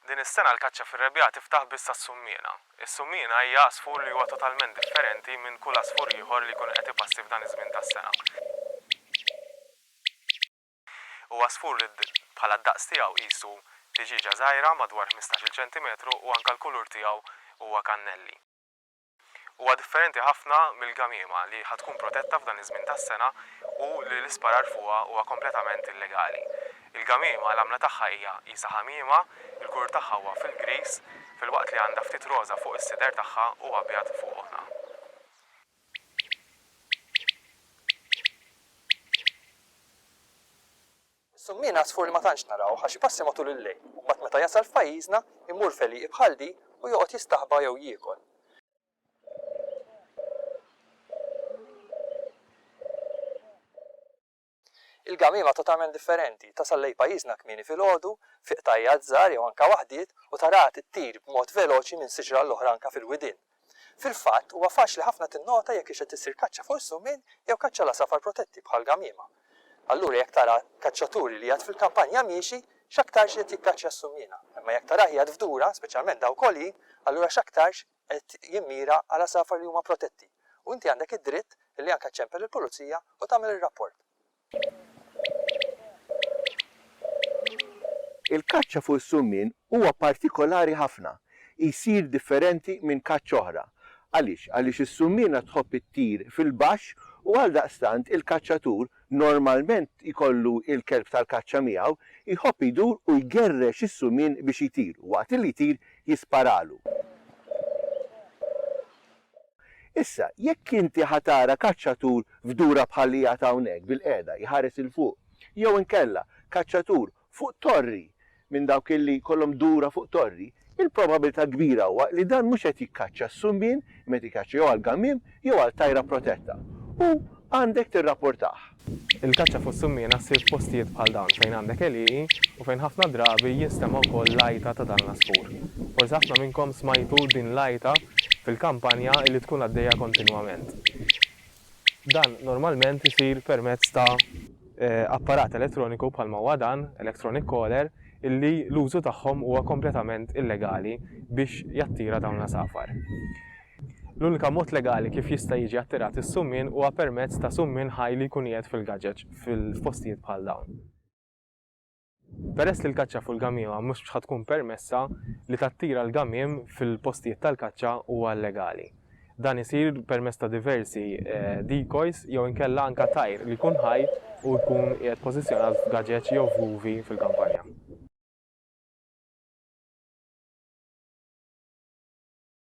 Din is-sena l-kaċċa fir-rebbiegħa tiftaħ biss għas-summiena. Is-summiena hija għasfur li huwa totalment differenti minn kull għasfur ieħor li jkun qed ipassi f'dan iż-żmien tas-sena. Huwa għasfur li bħala d-daqs tiegħu qisu tiġieġa żgħira madwar ħmistax-il ċentimetru u anke l-kulur tiegħu huwa kannelli. Huwa differenti ħafna mill-gamiema li ħa tkun protetta f'dan iż-żmien tas-sena u li l-isparar fuqha huwa kompletament illegali. Il-gamiema l-għamla tagħha hija qisha ħamiema, il-kulur tagħha huwa fil-griż, filwaqt li għandha ftit roża fuq is-sider tagħha u abjad fuq għonha. Is-summie ngħasfur li ma tantx narawh għax ipassi matul il-lejl u mbagħad meta jasal f'pajjiżna jmur f'għelieqi bħal din u joqgħod jistaħba jew jiekol. Il-gamiema totalment differenti, tasal lejn pajjiżna kmieni filgħodu, f'ieqtajjat żgħar jew anke waħdiet u taraha tittir b'mod veloċi minn siġra għall-oħra anke fil-widien. Fil-fatt, huwa faċli ħafna tinnota jekk hix qed issir kaċċa fuq is-summin jew kaċċa l-għasafar protetti bħal gamiema. Allura jekk tara kaċċaturi li jgħadd fil-kampanja miexi, x'aktarx qiegħed jikkaċċja s-summiena. Imma jekk tarah jgħadd f'dura, speċjalment dawk għoljin, allura x'aktarx qed jimmira għal għasafar li huma protetti. U inti għandek id-dritt li anke ċċempel il-pulizija u tagħmel ir-rapport. Il-kaċċa fuq is-summien huwa partikolari ħafna. Jsir differenti minn kaċċa oħra. Għaliex? Għaliex is-summiena tħobb ittir fil-baxx u għaldaqstant il-kaċċatur, normalment jkollu l-kelb tal-kaċċa miegħu, jħobb idur u jgerrex is-summien biex jtir u waqt li jtir jisparalu. Issa, jekk inti ħa tara kaċċatur f'dura bħal li qiegħed hawnhekk bilqiegħda jħares 'il fuq, jew inkella kaċċatur fuq torri minn dawk illi jkollhom dura fuq torri, il-probabilità kbira huwa li dan mhux qed jikkaċċa s-sumbien imma qed jikkaċċa jew għall-gammiem jew għal tajra protetta u għandek tirrapportah. Il-kaċċa fuq is-summiena ssir f'postijiet bħal dawn fejn għandek għelieqi u fejn ħafna drabi jinstema' wkoll l-għajta ta' dan l-għasfur. Forsi ħafna minnkom smajtu din l-għajta fil-kampanja li tkun għaddejja kontinwament. Dan normalment isir permezz ta' apparat elettroniku bħalma huwa dan, electronic caller, illi l-użu tagħhom huwa kompletament illegali biex jattira dawn l-għasafar. L-unika mod legali kif jista' jiġi attirat is-summien huwa permezz ta' summien ħaj li jkun qiegħed fil-gaġeġ f'postijiet bħal dawn. Peress li l-kaċċa fuq il-gamiema mhux bx' ħa tkun permessa, li tattira l-gamiem fil-postijiet tal-kaċċa huwa illegali. Dan isir permezz ta' diversi decoys jew inkella anke tajr li jkun ħaj u jkun qiegħed pożizzjonat f'gaġeġ jew f'vuvi fil-kampanja.